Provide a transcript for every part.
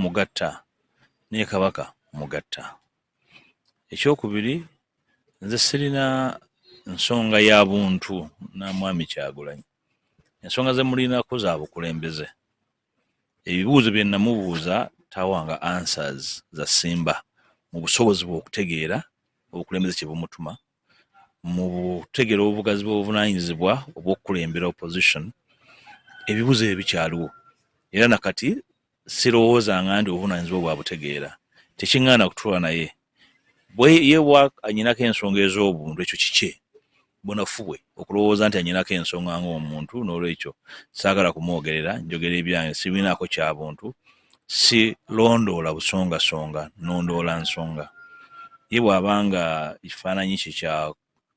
mugatta naye kabaka mugatta ekyokubiri nze sirina nsonga ya buntu na mwami kyagulanyi ensonga zemulinako za bukulembeze ebibuuzo bye namubuuza tawanga answers za simba mu busobozi bwe okutegeera obukulembeze kye bumutuma mu butegera obugazi bw'obuvunanyizibwa obw'okukulembera opposition ebibuzo ebyo bikyaliwo era nakati sirowooza nga ndi obuvunanyizibwa bwa butegeera tekiŋŋaana kutula naye bweyebwa anyinako ensonga ez'obuntu ekyo kikye bunafu bwe okulowooza nti anyinako ensonga ng'omuntu n'olwekyo saagala kumwogerera njogera ebyange sibinaako kya buntu si londoola busongasonga nondoola nsonga ye bw'aba nga ekifaananyi kye kya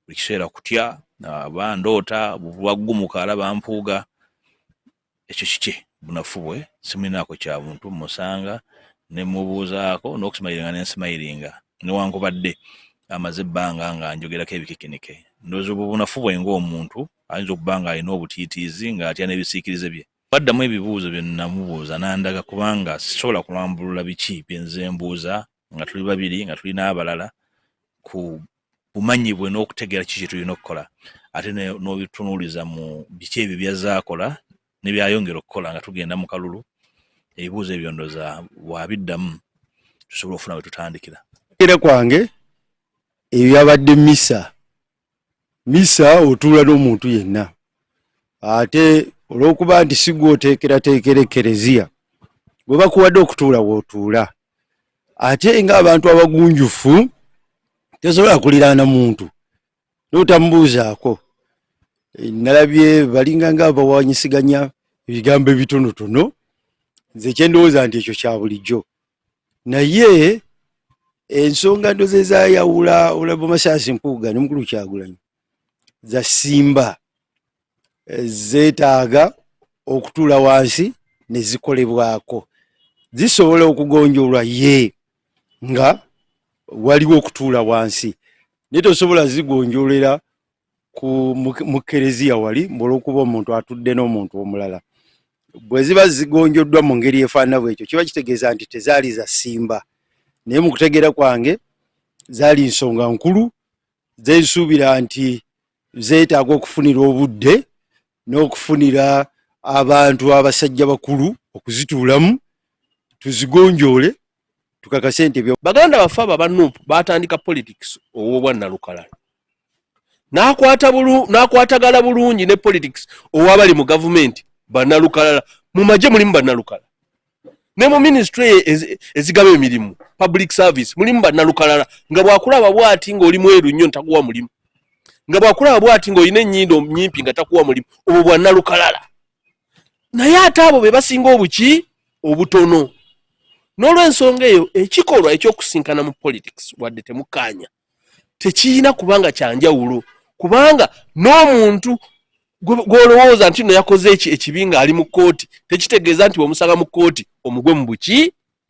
buli kiseera kutya aba ndoota bwaggumuka alaba mpuuga ekyo kikye bunafu bwe simulinaako kya buntu musanga ne mubuuzaako n'okusimayiringa ne nsimayiringa newankubadde amaze ebbanga nga njogerako ebikikinike ndoozi obwo bunafu bwe ng'omuntu ayinza okuba ng'alina obutiitiizi ng'atya n'ebisiikirize bye Baddamu ebibuuzo bye nnamubuuza n'andaga kubanga sisobola kulambulula biki bye nze mbuuza nga tuli babiri nga tuli n'abalala ku bumanyi bwe n'okutegeera kiki kye tulina okukola ate n'obitunuuliza mu biki ebyo by'azze akola ne by'ayongera okukola nga tugenda mu kalulu ebibuuzo ebyo ndoza wabiddamu tusobola okufuna we tutandikira. Okugera kwange ebyo byabadde misa misa otuula n'omuntu yenna ate olw'okuba nti sigwa oteekerateekera ekereziya gwe bakuwadde okutuula wootuula ate ng'abantu abagunjufu tesobola kuliraana muntu notamubuuzaako eh, nalabye balinga nga bawanyisiganya ebigambo ebitonotono nze kyendowooza nti ekyo kya bulijjo naye ensonga ndo zezayawula olabo masasi mpuuga ne mukulu kyagulanyi za simba eh, zetaaga okutula wansi ne zikolebwako zisobola okugonjolwa ye nga waliwo okutula wansi naye tosobola zigonjolera ku mukereziya wali olwokuba omuntu atudde n'omuntu omulala bwe ziba zigonjoddwa mu ngeri efaanana bwekyo kiba kitegeeza nti tezaali za simba naye mu kutegeera kwange zaali nsonga nkulu zensuubira nti zeetaaga okufunira obudde n'okufunira abantu abasajja bakulu okuzituulamu tuzigonjoole tukakase nti ebyo baganda baffe abo abanup baatandika politics ow'obwa nalukala n'akwatagala bulungi ne politics owabali mu gavumenti banalukalala mu magye mulimu banalukala ne mu minisitule ezigaba emirimu public service mulimu banalukalala nga bwakulaba bwati ng'oli mweru nnyo ntakuwa mulimu nga bwakulaba bwati ng'olina ennyindo nyimpi nga takuwa mulimu obwo bwanalukalala naye ate abo be basinga obuki obutono n'olwensonga eyo ekikolwa ekyokusinkana mu politics wadde temukaanya tekiyina kubanga kyanjawulo kubanga n'omuntu gwolowooza nti no yakoze eki ekibi nga ali mu kkooti tekitegeeza nti wemusanga mu kkooti omugwe mu buki